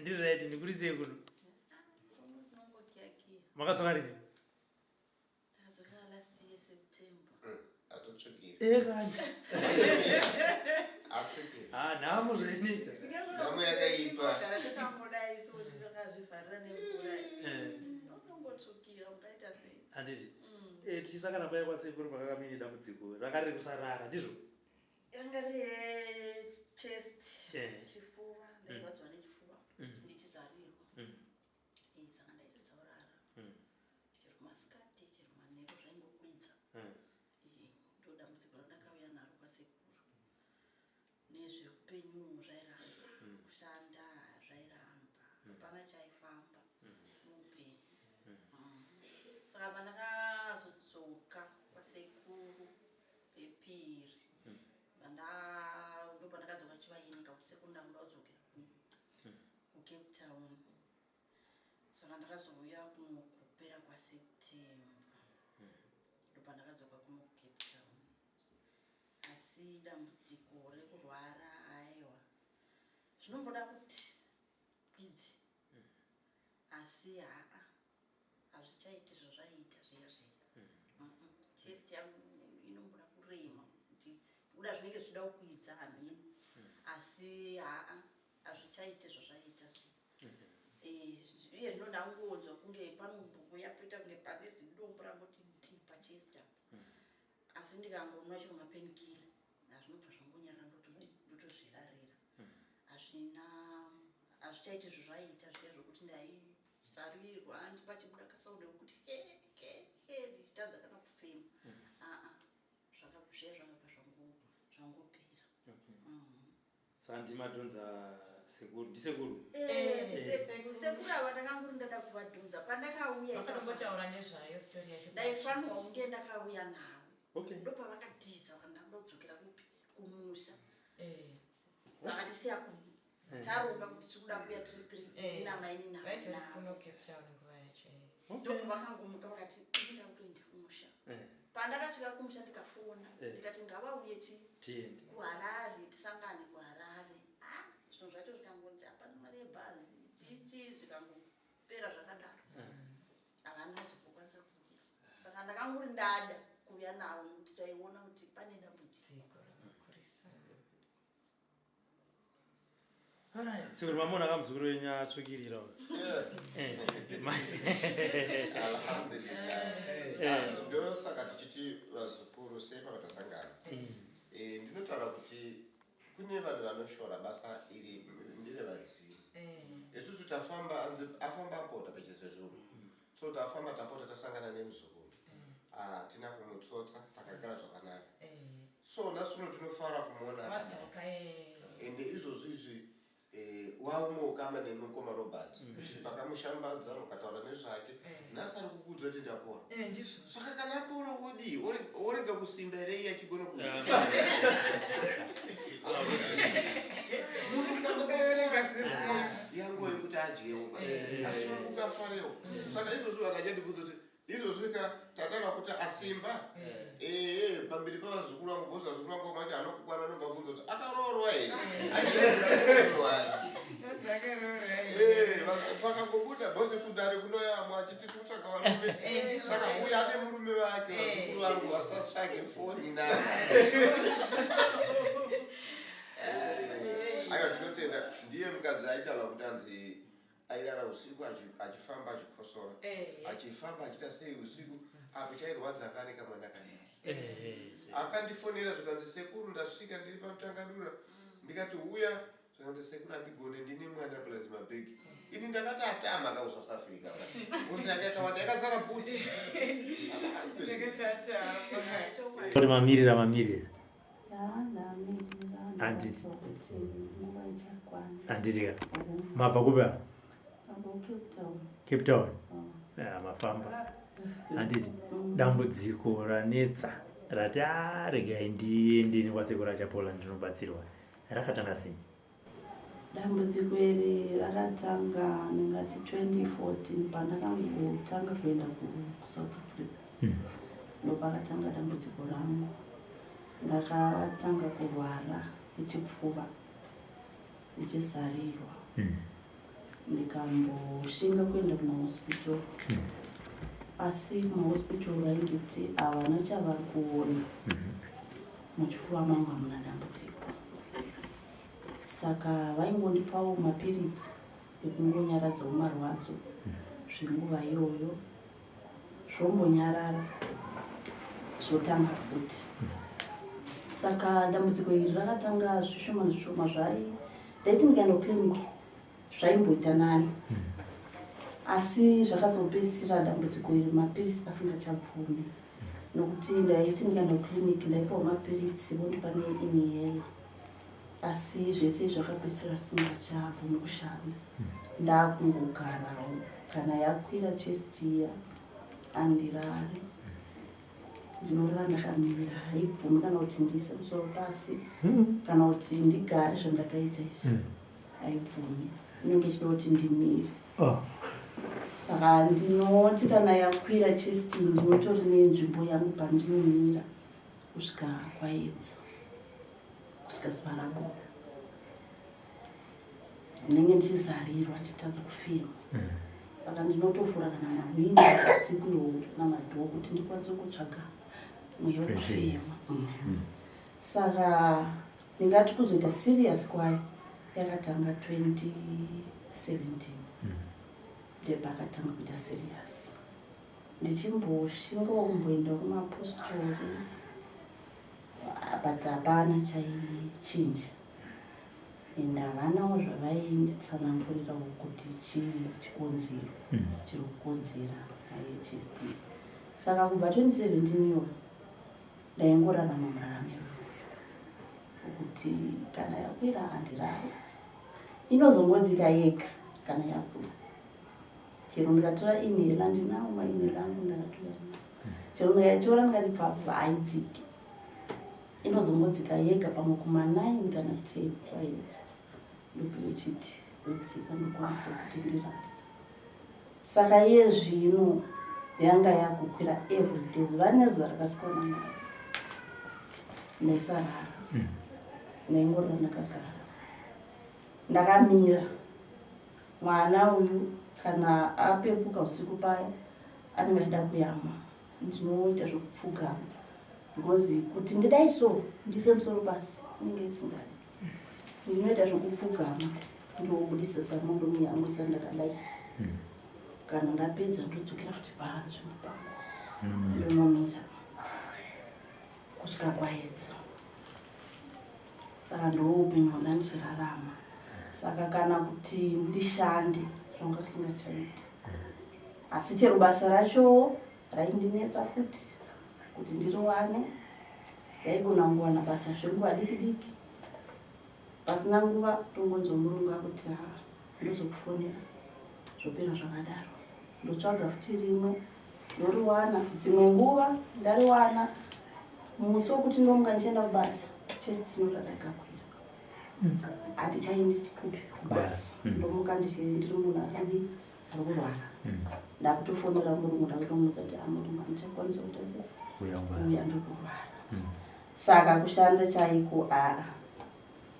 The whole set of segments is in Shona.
ndiri right ndikurisei kuno makadzoka rini nhamo zvainoita nhamo yakaipa handiti tichisakana paya kwasekuru pakakaminye dambudziko ranga riri kusarara ndizvo Yanga re chest, yeah. chifuva, ndairwadziwa mm. nechifuva, mm. ndichizarirwa. Mm. Eh, saka ndaita dzaurara. Mm. Chero masikati, chero manheru zvaingokwidza. Mm. Eh, ndo dambudziko randakauya naro kwasekuru. Nezveupenyu zvairamba, mm. kushanda zvairamba, mm. hapana mm. chaifamba mm. muupenyu. Mm. Mm. Saka pandakazodzoka kwasekuru pepiri randa ndopandakadzoka chivaini kakusekuru ndakuda kudzokera kucape town saka ndakazouya kuno kupera kwaseptember ndopandakadzoka kuno kucape town asi dambudziko rekurwara aiwa zvinomboda kuti kwidzi asi haa hazvichaiti zvazvaiita zviya zviya mm-hmm. chest yangu inomboda kurema kuti kuda zvinenge zvichida kukwidza hamhini mm. asi haa hazvichaiti zvazvaiita zviya mm-hmm. eh, iye zvino ndangonzwa kunge panombuya poita kunge pane zidombo rangoti nti pachest apo mm. asi ndikangonwa chero mapenkila hazvinobva zvangonyarira ndotodii ndotozvirarira mm. hazvina hazvichaiti zvozvaiita zviya zvokuti ndai Sarirwa handi pachibuda kasound kekuti he he he ndichitadza kana kufema. Mm. Ah ah. Zvakabve zvakabva zvangu zvangopera. Okay. Mm. Saka ndimadhonza sekuru ndisekuru eh, eh, eh, sekuru ava ndakanguri ndada kuvadhonza pandakauya ndakatombotaura nezvayo stori yacho ndaifanirwa kunge ndakauya navo okay. ndopavakatiza kana ndodzokera kupi kumusha vakatisiya taronga kuti tiri kuda kuya tiri three eh, ina maini na right na kuno cape town nguva yacho eh. okay. ndipo vakangomuka vakati ndinga kutoenda kumusha eh. pandakasvika kumusha ndikafona eh. ndikati ngava uye ti tiende kuharare tisangane kuharare ah zvinhu zvacho zvikangonzi hapana mari yebhazi chichi zvikangopera zvakadaro eh. havana eh. zokukwanisa kuuya saka ndakanguri ndada kuuya navo nekuti taiona kuti pane dambudziko rakakurisa Singuri mamona ka muzukuru wenyu atsvukirira uyu. Eh, ma- alhamdulillah ndosaka tichiti vazukuru sei pavatasangana Eh, ndinotaura kuti kune vanhu vanoshora basa iri ndire vadzimu isusu tafamba anzi- afamba apota pachese zvunhu So tafamba tapota tasangana nemuzukuru hatina kumutsotsa takagara zvakanaka so nhasi uno tinofara kumuona Wadzoka eh. ende izvozvi izvi eh, waumo ukama nemukoma robert pakamushambadza mukataura nezvake nhasi ari kukuudzwa kuti ndapora Eh, ndizvo. saka kana apora wodii orega kusimba here iye achigona ku yanguva yekuti adyewo asununguka afarewo saka izvozvo vanhu achandibvudza kuti izvozvo ka tatana kuti asimba ee pamberi pavazukuru vangu bhosa zukuru vangu macho anokukwana anobva bvunza kuti akaroorwa here aiaaroorwa pakangobuda bhose kudare kunoyamwa achiti kutsvaga varume eh, saka uya ane murume vake eh. vazukuru vangu vasatsvage foni na aiwa tinotenda ndiye mukadzi aitaura kuti anzi airara usiku achifamba achikosora eh. achifamba achiita sei usiku apo chairwadza anga ane kamwana kadiki akandifonera zvikanzi sekuru ndasvika ndiri pamutangadura mm. ndikati uya Zvakanzi sekuru andigone ndine mwana plus mabag. Ini ndakati atama ka usa South Africa. Usa yake yakawanda yakazara buti. Kuti mamirira mamirira. Anditi. Anditi ka. Mabva kupi apa? Cape Town. Ah, mafamba. Anditi dambudziko ranetsa rati ah regai ndiende kwasekuru achapola ndinobatsirwa. Rakatanga sei? Dambudziko iri rakatanga ndingati 2014 pandakangotanga kuenda kuSouth Africa. Hmm. Ndopakatanga dambudziko rangu. Ndakatanga kurwara nechipfuva ndichizarirwa. Hmm. ndikamboshinga kuenda kumahospital mm. asi kumahospital vainditi havana chavari kuona mm-hmm. muchifuva mangu hamuna dambudziko saka vaingondipawo mapiritsi ekungonyaradzawo marwadzo mm. zvenguva iyoyo zvombonyarara zvotanga futi saka dambudziko iri rakatanga zvishoma zvishoma zvai ndaiti ndikaenda kuclinic zvaimboita nani hmm. asi zvakazopedzisira dambudziko iri mapiritsi asingachabvumi nokuti ndaiti ndikaenda kuclinic ndaipiwa mapiritsi vondipa neinihela asi zvese zvakapesera simba chabvu mukushanda ndakungogarawo kana yakwira chestiya andirari ndinorara ndakamira haibvumi kana kuti ndiise musoro pasi hmm. kana kuti ndigare zvandakaita izvi hmm. haibvumi inenge ichida kuti ndimire oh. saka ndinoti kana yakwira chesti ndinotori nenzvimbo yangu pandinomira kusvika kwaedza kusvika zuva rabuda ndinenge ndichizarirwa ndichitadza kufema mm. saka ndinotofura kana mahwini usiku iwowo namadhoo kuti ndikwanise kutsvaga mweya wekufema mm. mm. saka ndingati kuzoita serious kwayo yakatanga 2017 ndepakatanga kuita serious ndichimboshingawo kumboenda kumapostori but hapana chaichinja and havanawo zvavainditsanangurirawo kuti chii chikonzero hmm. chiri kukonzera ihst saka kubva 2017 iyo ndaingorarama muraramiro kuti kana yakwira handirare inozongonzika yega kana yakwira chero ndikatora email andinawo maemail angu ndakatora chero ndikaitora ndikati bvabva haidziki inozongodzika yega pamwe kuma9 kana 10 kwaedza ndopi uchiti udzika ndokwanisa kuti ndirare saka iye zvino yanga yakukwira everyday zuva nezuva rakasikwana mari ndaisarara mm. ndaingorira ndakagara ndakamira Mwana uyu kana apepuka usiku paya anenge achida kuyamwa ndinoita zvekupfugama because kuti ndidai so ndise musoro pasi inenge isingadi ndinoita zvekupfugama ndobudisa samondo muyamwisa ndakadai hmm. kana ndapedza ndodzokera kuti paa zvemupango hmm. ndomomira kusvika kwaedza saka ndoupenyu hwanga ndichirarama saka kana kuti ndishande zvanga zvisingachaiti asi chero basa racho raindinetsa futi kuti ndiriwane ndaigona kungowana basa zvenguva diki diki pasina nguva tongonzwa murungu akuti ha ndozokufonera zvopera zvakadaro ndotsvaga futi rimwe ndoriwana dzimwe nguva ndariwana musi wekuti ndomuka ndichienda kubasa chest inorara ikakwira handichaendi kubasa hmm. ndomuka ndiri munhu akadi ari kurwara hmm. ndakutofonera murume ndakutomudza kuti amurume andichakwanisa kuita sei uya ndikurwara hmm. saka kushanda chaiko aa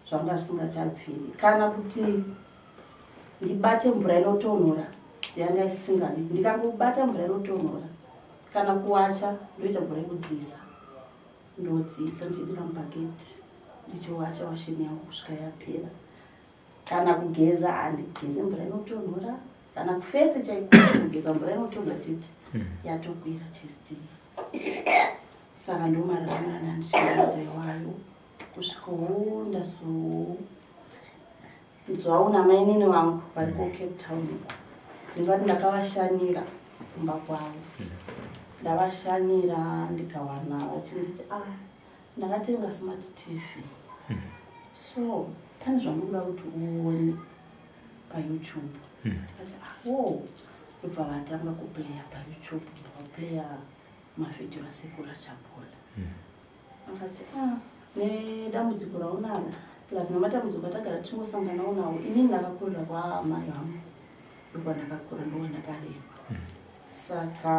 zvanga zvisingachabviri kana kuti ndibate mvura inotonhora yanga isingadi ndikangobata mvura inotonhora kana kuwacha ndoita mvura yekudziisa ndodziisa ndichibira mubhaketi ndichiwacha washeni yangu kusvika yapera kana kugeza handigeze mvura inotonhora kana kufese chaikugeza mvura inotonhora chete hmm. yatokwira chesti saka ndomararana ndichiaitaiwayo kusvika huu ndazonzwa una mainini vangu vari ku cape town ndingati ndakavashanira kumba kwavo ndavashanira ndikawana vachinditi a ah, ndakatenga smart tv so pane zvamunoda kuti uone payoutube ndikati awo ah, oh, ibva vatanga kuplaya payoutube ndavaplaya mavhidhiyo asekura chapola akati ah, nedambudziko raunaro plus nematambudziko atagara tichingosanganawo nawo inini ndakakurira kwaamai vangu ndokwandakakura ndowandakarewa hmm. saka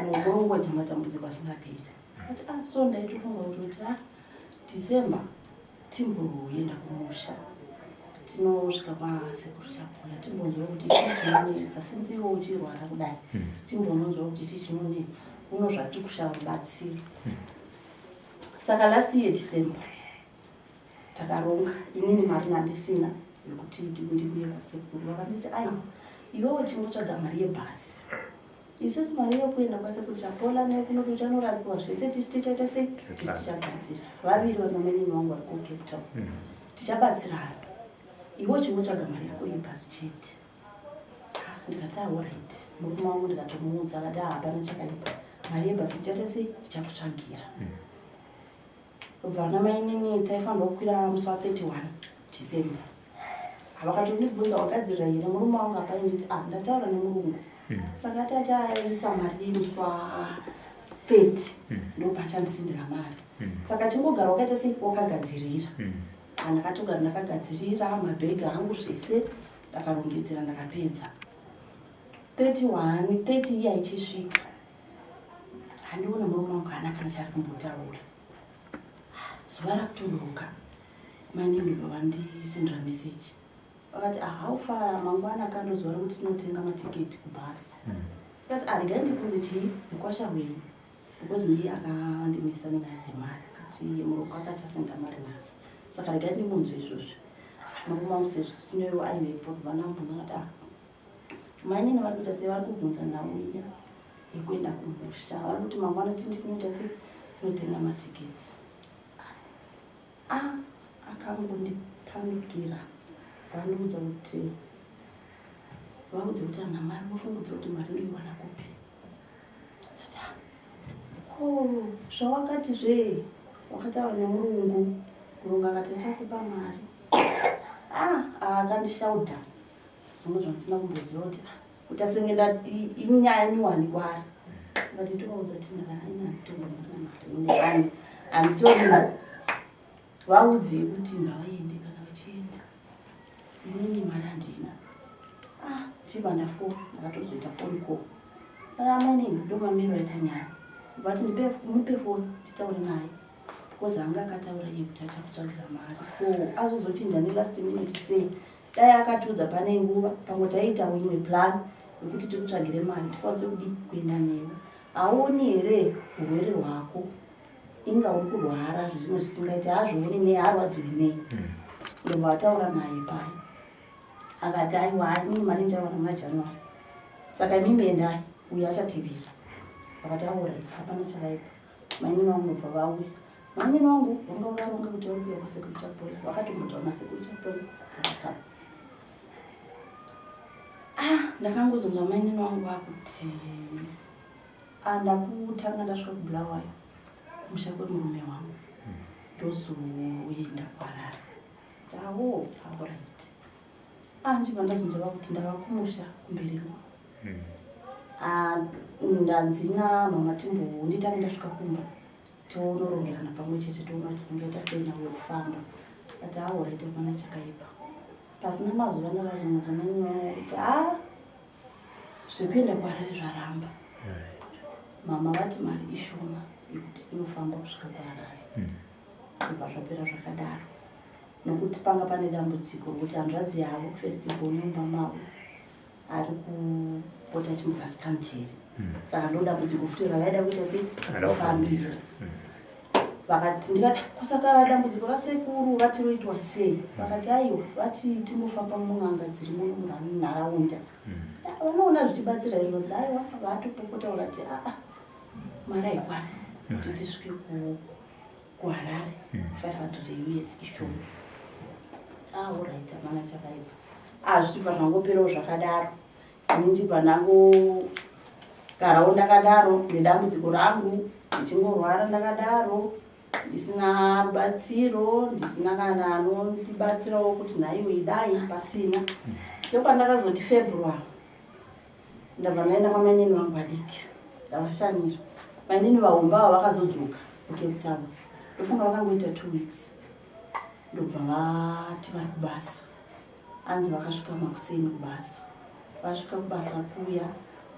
mukurongwedza matambudziko asingaperi ati ah, so ndaitofunga kuti ah, december timboenda kumusha tinosvika kwasekuru chapona timbonzwa kuti chii chinonetsa since iwo uchirwara kudai hmm. timbononzwa kuti chii chinonetsa uno zvati kushava batsiri hmm. saka last year december takaronga inini mari mandisina yekuti ndikuye kwasekuru vakanditi ai iwewo chingotsvaga mari yebhasi isusu mari yokuenda kwasekuru chapola nekunoto chanorapiwa zvese tisu tichaita sei tisu tichabatsira vaviri vanomenini wangu vari kucape town mm. tichabatsirana iwe uchingotsvaga mari yako yebhasi chete ndikati ahorit murume wangu ndikatomuudza akati ah, hapana chakaipa mari yebhasi tichaita sei tichakutsvagira mm. kubva ana mainini taifanirwa kukwira musi wa 31 december havakatondibvunza wagadzirira here murume wangu apai nditi a ah, ndataura nemurungu hmm. saka tati aisa mari yemusi wa 30 hmm. ndopachandisindira mari hmm. saka chingogara wakaita sei wakagadzirira andakatogara ndakagadzirira mabhegi angu zvese ndakarongedzera ndakapedza 31 30 iya ichisvika handione murume wangu haana kana chaari kumbotaura zuva rakutoroka maininduva vandisendera meseji vakati ahaufa ah, mangwana kandozuva rokuti tinotenga matiketi kubhasi hmm. ikati aregai ah, ndibvunze chii mukwasha wenyu because ndiye akandimisa nenyaya dzemari akati murume akati asenda mari nhasi saka regai ndimunzwe izvozvi makumamusezvo sinewo aivepo vanambunaati ah, Mainini vari kuita sei vari kubvunza nhau iya yekuenda kumusha. Vari kuti mangwana tindinoita sei tinotenga matiketsi. Ah, akangondipandukira vandiudza kuti vaudze kuti ana mari vofungudza kuti mari ndoiwana kupi. Ati, ko zvawakati zve wakataura nemurungu murungu akati achakupa mari. Ah, akandishauda. Ah, Zvimwe zvandisina kumboziva kuti ah, kuti asenge ndati inyaya nyuwani kwaari ngati tovaudza kuti ndakaainatoaari anditori vaudzei kuti ngavaende kana vachienda inini mari handina ah, tiba ndafoni ndakatozoita foni ko amene ndomamiro aita nyaya vati mupe foni titaure naye because anga akataura iye kuti achakutsvagira mari ko azozoti ndane last minute sei dai akatiudza pane nguva pamwe taiita imwe plan yekuti tikutsvagire mari tikwanise kudi kuenda newe haoni here urwere hwako inga uri kurwara zvimwe zvisingaiti hazvioni nei harwadziwi nei hmm. ndobva ataura naye paye akati aiwa haimini mari ndichawana muna january saka imimi endai uyo achatibira vakati aura hapana chakaipa Mainini wangu ndobva vauya. Mainini wangu vanga vakaronga kuti vari kuuya kwasekuru Chapola. Vakatombotaura nasekuru Chapola vakatsa. Ah, ndakangozonzwa mainini wangu vakuti ah, ndakutanga ndasvika kubulawayo kumusha kwemurume wangu ndozoenda kwarara tawo auraiti anji vandazonzwa vakuti ndava kumusha kumberi kwavo hmm. ah, ndanzi namama timbowo nditange ndasvika kumba toonorongerana pamwe chete toona kuti tingaita sei navo yekufamba ati aoraita ah, pana chakaipa pasina mazuva nakazomuka nanyaya kuti a ah, zvekuenda kuharare zvaramba mama vati mari ishoma yekuti inofamba kusvika kuharare hmm. kubva zvapera zvakadaro nokuti panga pane dambudziko rokuti hanzvadzi yavo festival mumba mavo ari kupota chimurasikani chiri hmm. saka ndoda kuti kufuti rakaida kuita sei kufambira hmm. vakati ndikati kusaka dambudziko rasekuru vati roitwa sei hmm. vakati aiwa vati tinofamba mun'anga dziri muno munharaunda vanoona zvichibatsira izvonzi aiwa vatopopota vakati aa mari aikwana kuti tisvike ku kuharare 500 years ishoma aorit ah, hapana chakaipa azvichibva ah, zvangoperawo zvakadaro ini ndichibva ndangogarawo ndakadaro nedambudziko rangu ndichingorwara ndakadaro ndisina rubatsiro ndisina kana anondibatsirawo kuti nhaiwe idai pasina ndopandakazoti february ndabva ndaenda kwamainini vangu vadiki ndavashanyira mainini vahomba avo vakazodzoka kucape town ndofunga vakangoita two weeks ndobva vati vari kubasa anzi vakasvika makuseni kubasa vasvika kubasa kuya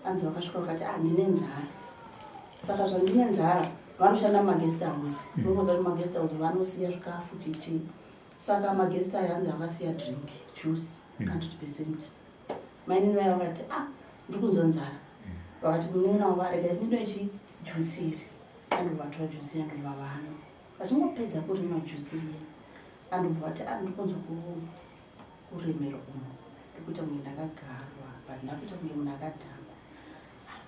anzi vakasvika vakati ah ndine nzara saka zvandine nzara vanoshanda mumaguest house nongoza kuti maguest house vanosiya zvikafu chichii saka maguest ayo anzi akasiya drink juice 100 mm. percent mainini vaya vakati ah ndiri kunzwa nzara vakati munin'ina wavo arega ndinoe chijusiri andovatora jusiri yandova vano vachingopedza kurima jusiri ye andobva vati ah ndiri kunzwa kuremera umo ndikuita kunge ndakagarwa but ndakuita kunge munhu akadhakwa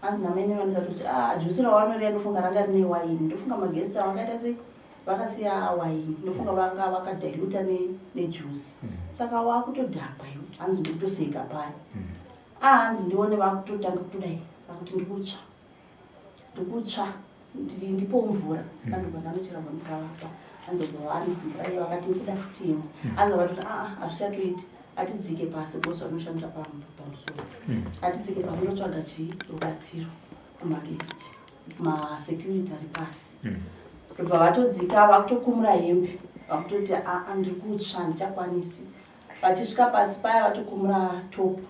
hanzi namaine vanoita kuti ah, jusi rawanorea ndofunga ranga rine waini ndofunga maguest avo akaita sei vakasiya waini ndofunga vanga vakadiluta nejusi mm. saka wakutodhakwa iwo hanzi ndikutoseka paya mm. ahanzi ah, ndione vakutotanga kutodai vakuti ndikutsva ndikutsva kuti ndipo mvura mm. vanhu vananochera kwamukavapa anzobovana mvura iyo vakati nikuda fitimu mm. anzovati aa ah, hazvichatoiti atidzike pasi bos vanoshandira pamusoro mm. atidzike pasi ndotsvaga chii rubatsiro kumagest masecurity ari pasi ndobva vatodzika vakutokumura hembe vakutoti aa ah, ah, ndiri kutsva ndichakwanisi vachisvika pasi paya vatokumura topu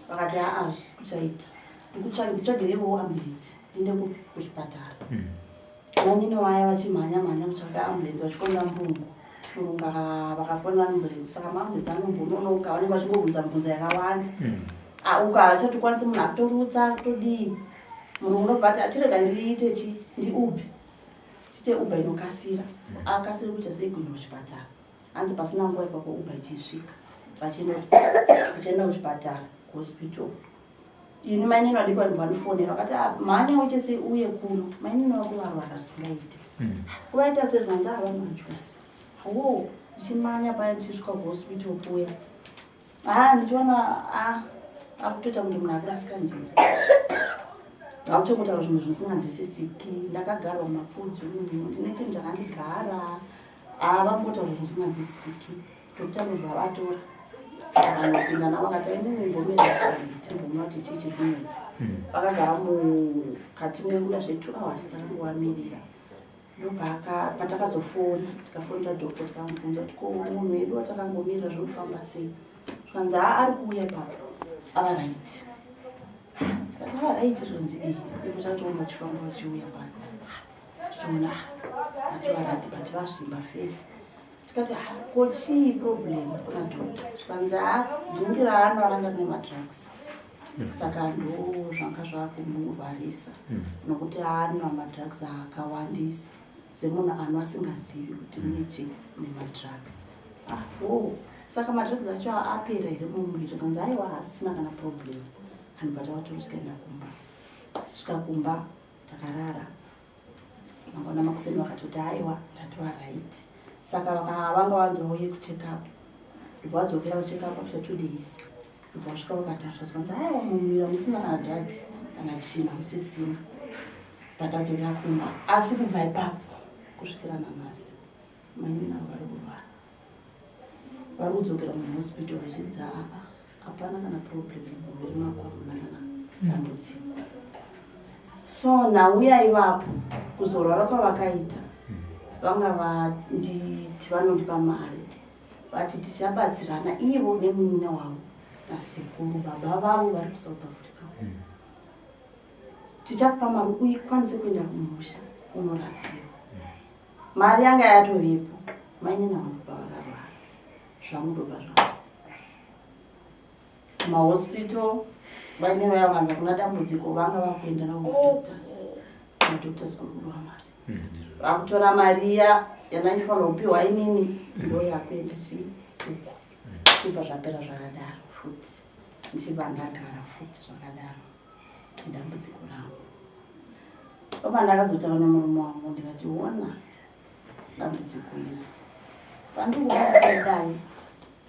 vakati aa ah, hazvisi kuchaita nditsvagirewo ambulensi ndiende kupi kuchipatara hmm. vanini vaya vachimhanya mhanya kutsvaga ambulensi vachifonera murungu murungu vakafonera ambulensi saka maambulensi anombononoka vanenge vachingobvunza mibvunzo yakawanda hmm. ah, uko havachatokwanisi munhu akutorutsa kutodii murungu nobati atirega ah, ndiite chi ndiubi chite uba inokasira hmm. akasiri kuita seigwini kuchipatara hanzi pasina nguva ipapo uba ichisvika vachienda kuchipatara kuhospital ini mainini vadiki vanhu vanofonera vakati ah, mhanya uite sei uye kuno mainini vako varwara zvisingaite hmm. kuvaita sei zvanzi havana majusi wo ndichimanya paya ndichisvika kuhospital kuya haa ah, ndichiona ah, akutoita kunge munhu akurasika njere akutongotaura zvimwe zvinosinganzwisisiki ndakagarwa mapfudzi ndine chinhu chakandigara haa vambota kuti musinganzwisisiki tokuti anobva vatora vanopinda navo akati aimunumbomeakanzi timbomwa kuti chii chikunetsa hmm. vakagara mukati mekuda zve two hours takangovamirira ndopatakazofona tikafonera doctor tikamubvunza kuti ko munhu wedu watakangomirira zvinofamba sei zvikanzi haa ari kuuya papa ava right tikati ava right zvanzi ee ndipo tatoona uchifamba uchiuya pano tichiona ativarati but vazvimba fesi tikati ah, ko chii problem kuna dota zvikanzi a ah, dhingi raano aranga rine madrugs mm. saka ndo zvanga zvakumurwarisa mm. nokuti anwa madrugs akawandisa semunhu anwa asingazivi kuti mm. nechi nemadrugs apo ah, oh. saka madrugs acho apera here mumuviri kanzi aiwa asina kana problem anhu bata vatoro tikaenda kumba svika kumba takarara mangwana makuseni vakatoti aiwa ndatova right saka vanga vanzouye kucheck up ibva vadzokera kucheck up after two days ibva vasvika vakatasva zvanzi aiwa mumira musina kana drug kana china musisina but adzokera kumba asi kubva ipapo kusvikira nanhasi Mainini avo vari kurwara. Vari kudzokera muhospital vachidza apa. Hapana kana problem muviri mako hamuna kana dambudziko. So nauya ivapo kuzorwara kwavakaita vanga vanditi vanondipa mari vati tichabatsirana ivo nemunin'ina wavo nasekuru baba vavo vari kusouth africa mm. tichakupa mari uikwanise kuenda kumusha unorapiwa mm. mari yanga yatovepo mainini amunopa vakarwara zvamunopa zvavo mahospital vaine vaya vanza kuna dambudziko vanga vakuenda naodoctors madoctors kuri kudiwa mari mm-hmm. vakutora mari iya yanaifanira kupiwa inini mm-hmm. ndo yakuenda chii uko chibva zvapera zvakadaro futi ndichibva ndagara futi zvakadaro ndambudziko rangu baba ndakazotaura nemurume wangu ndikationa dambudziko iri pandikuaidai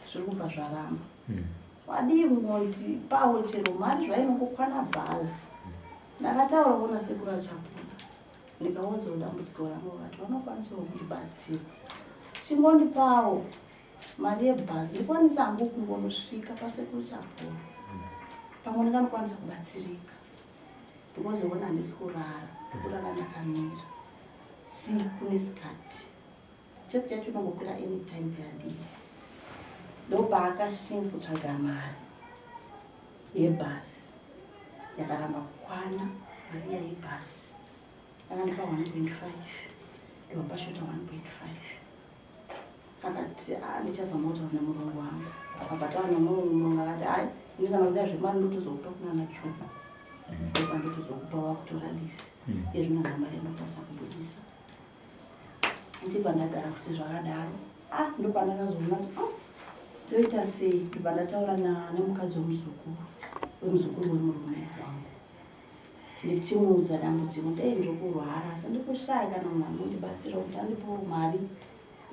zviri kubva zvaramba hmm. wadii moti pawo chero mari zvainongokwana bhazi ndakataura kuona sekuru achapona ndikaunzwa dambudziko rangu vati vanokwanisawo kundibatsira chingondipawo mari yebhazi ndikwanisa hangu kungonosvika pasekuru chapoo pamwe ndinganokwanisa kubatsirika because yona handisi kurara kurara ndakamira siku nesikati chest yacho inongokwira anytime peyadii ndopaakashinga kutsvaga mari yebhasi yakaramba kukwana mari yaibhasi akandipa 1.5 ndopashota 1.5 akati ah, ndichazama kutaura nemurungu wangu akabataura nemurungu murungu akati hayi ini kana kuda zvemari ndotozokupa kunana chuma mm. opa ndotozokupa wakutora live mm. izvino namari anokwanisa kubudisa ndipa ndagara kuti zvakadaro a ah, ndopa ndakazoona kuti oh, ndoita sei ndipa ndataura nemukadzi wemuzukuru wemuzukuru wemurume wangu ndichimuudza dambudziko ndei ndiri kurwara asi ndikushaya kana munhu anondibatsira kuti andipowo mari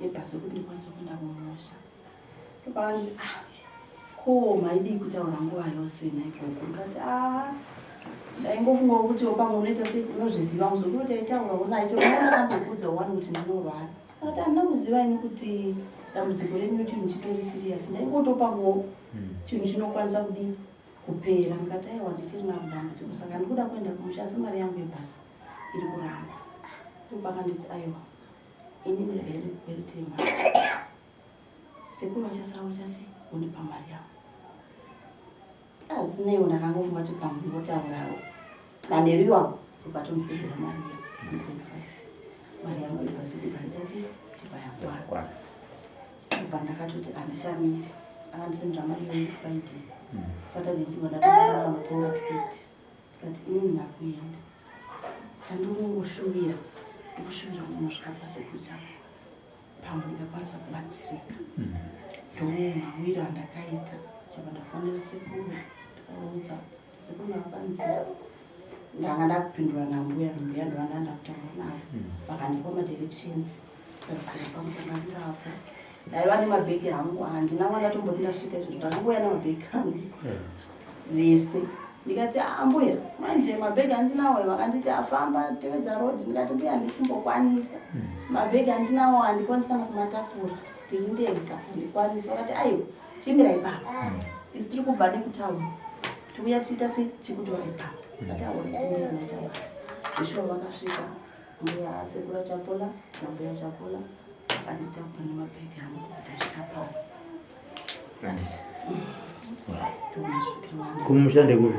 yebhasi yekuti ndikwanise kuenda kumusha ndopavandizi ah ko maidii kutaura nguva yose naikoko ndikati a ah, ndaingofunga kuti opamwe unoita sei unozviziva muzoku kuti aitaura unaito ndaakambokuudza wani kuti ndinorwara akati handina kuziva ini kuti dambudziko renyu chinhu chitori siriyasi ndaingotopamwewo hmm. chinhu chinokwanisa kudii kupera ndikati aiwa ndichiri na dambudziko saka ndikuda kuenda kumusha asi mari yangu yebhasi iri kuramba ndobaka nditi aiwa ini ndibere kweritema sekuru vachasara vachase undipa mari yavo azvisineiwo ndakangofunga kuti pamwe votaurawo Manheru iwapo ukatomusegera mari mari yangu ibasiti paitasi tipayakwana apa ndakatoti andichamiri akandisendera mari yoyu friday mm. saturday ndivo ndatoaanotenga tiketi ndikati inini ndakuenda chandikungoshuvira ndikushuvira munhu zvikapa sekucha pamwe ndikakwanisa kubatsirika mm. ndoumawiro andakaita chapa ndafonera sekuru ndikaudza Sekuru Mapanzi ndanga ndakupindura nambuya nambuya ndovanda ndakutaura navo hmm. vakandipa madirections ndadzikaipa kuti ndamira apo ndaiva nemabhegi hangu handina mwana tomboti ndasvika izvozvo ndakangouya nemabhegi hangu vese hmm. ndikati ambuya ah, manje mabhegi andinawo vakanditi afamba ah, tevedza road ndikati mbuya handisimbokwanisa hmm. mabhegi andinawo handikwanisi kana kumatakura ndini ndega handikwanisi vakati aiwa chimira ipapo mm. isu tiri kubva nekutaura tikuya tiita se tikutora ipapo mm. ataonataasi zveshuwa vakasvika mbuya sekura chapola nambuya chapola andita kupa nemabhegi angu tasvika pao kumusha ndekupi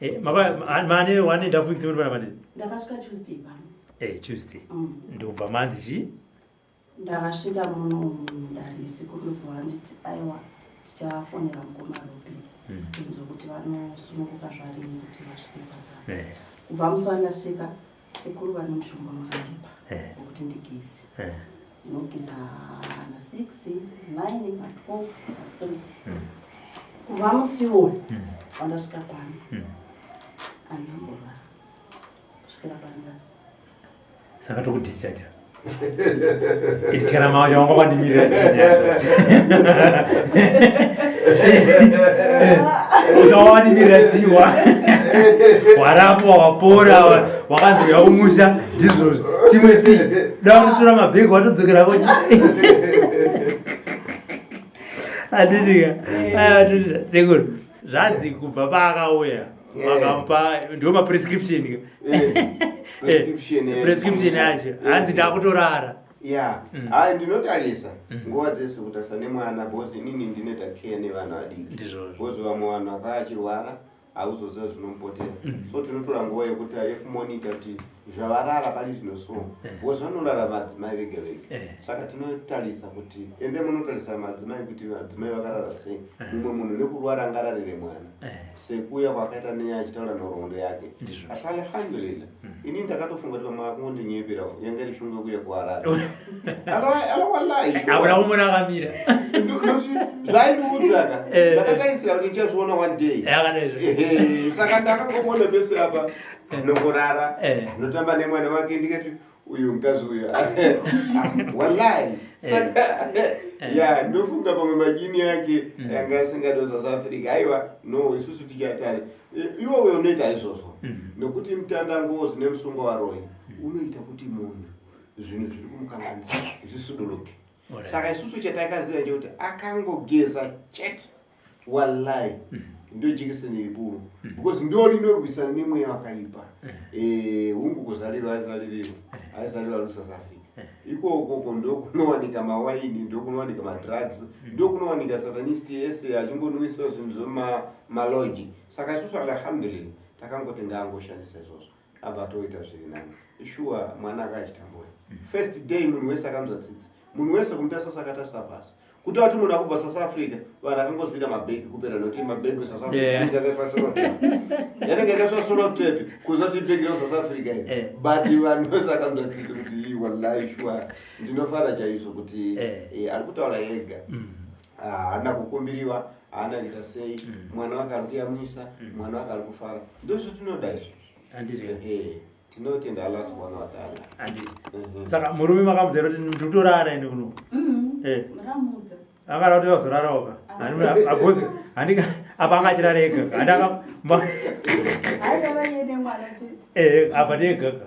Eh, mane one and half weeks muripana mane ndakasvika tuesday pano eh tuesday mm. ndobva manzi chi ndakasvika muno mudare siku ndobva nditi aiwa tichafonera mukoma robi mm. inzwa kuti vanosununguka zvarini kuti vasvike paa eh. kubva musi wandasvika Sekuru vane mushonga wakandipa eh. wekuti ndigeze eh. ndinogeza na 6 9 na 12 na 3 hmm. kubva musi iwoyo hmm. wandasvika pano hmm. andambova kusvikira panyasi saka tokudischaja Itikana mama wangu kwa ndimi ya chini. Utawa ndimi ya chini wa. Warapo wapora wakanzi ya umusha Jesus. Chimwe chi. Dawa mtura mabego watodzokera kwa chini. Adidika. Aya adidika. Sekuru. Zvanzi kubva paakauya. vakamupa ndiwo maprescription eh, eh, prescription yacho eh, hanzi ndakutorara ya mm. ha ndinotarisa mm. nguva dzese kutarisa nemwana bcause inini ndinoita care nevana vadiki bcause vamwe vanhu vakava vachirwara hauzoziva zvinomupotera mm. so tinotora nguva yekuti yekumonita kuti zvavarara pari zvino so bcause vanorara madzimai vega vega saka tinotarisa kuti ende munotarisa madzimai kuti madzimai vakarara sei mumwe munhu nekurwara angararire mwana sekuuya kwakaita neye achitaura nhoroondo yake asi alhamdulillah hmm. ini ndakatofunga kuti vamwe vakungondinyeperao yanga iri shungu yekuuya kuhararewalaizvaakamira zvaindiudzaka eh. ndakatarisira kuti ndichazviona one day saka ndakangomona pese apa eh. nokurara eh. notamba nemwana wake ndikati uyu mkazi uyu wallahi saka eh. ya ndofunga pamwe majini yake mm. yanga asingado south africa aiwa no isusu tichatari iwowe unoita izvozvo mm. nokuti mutandangozi nemusungo waroyi mm. unoita kuti munhu zvinhu zviri kumukanganisa zvisuduruke saka isusu chatakaziva chekuti akangogeza chete wallahi mm. ndio jekiseni ikuru mm. because ndio linorwisana nemweya wakaipa mm. eh hungu kuzalirwa aizalirwa aizalirwa lu South Africa iko ukoko ndio kunowanika mawaini ndio kunowanika madrugs ndio kunowanika satanist ese achingonwiswa zvinhu zvema maloji saka isusu alhamdulillah takangotenga angoshandisa izvozvo abva atoita zviri nani shuwa mwana aka achitambura mm. first day munhu wese akanzwa tsitsi munhu wese kumutarisa sakatarisa pasi kuti ati munhu akubva south africa vanhu akangozviita mabhegi kupera nokuti mabhegi esouth africayanenge akaiswasorotep kuziva kuti ibhegi rosouth africa i eh. but vanhu vese akanzwa tsitsi kuti wallahi shuwa ndinofara chaizvo kuti eh. Eh, ari kutaura yega mm. haana kukumbiriwa haana kuita sei mm. mwana wake ari kuyamwisa mm. mwana wake ari kufara ndozvo tinoda izvo tinotenda allah subhana wataala mhm. saka murume makamuzera kuti nditorara ende kuno mm-hmm. eh. akada kuti vazorara oka agozi handika apa anga achirara egaga handaka eh, apa tiegaka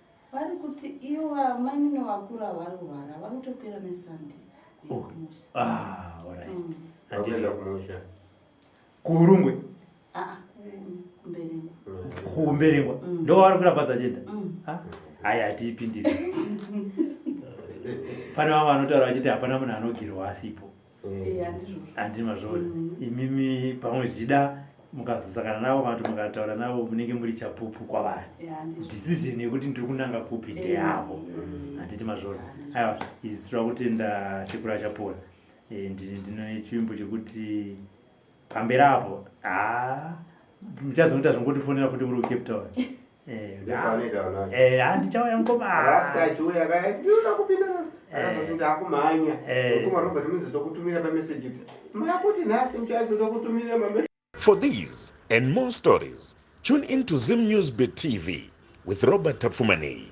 vari kuti ivo vamainini vakura vari kurwara vari kutokwira nesande oh. ah, mm. kuurungwe ah, ah, kuumberengwa mm. ndo vavari kurapatsa chenda mm. haya hatiipindiri pane vamwe vanotaura vachiti hapana munhu anogirwa asipo handi mazvona mm. imimi pamwe zvichida mukazosangana navo kana kuti mukataura navo munenge muri chapupu kwavari decision yekuti ndiri kunanga kupi ndeyavo mm. handiti mazvona aiwa izi tira kutenda sekura chapora eh, ndine chivimbo chekuti pamberi apo haa ah, muchazoita zvingotifonera futi muri kucape town handichauya mukomaachiuyakaaiuda kupinda akazotuti akumhanya mukoma robert muzotokutumira pameseji kuti makuti nhasi muchaizotokutumira mame For these and more stories, tune in to Zim News Bit TV with Robert Tapfumani.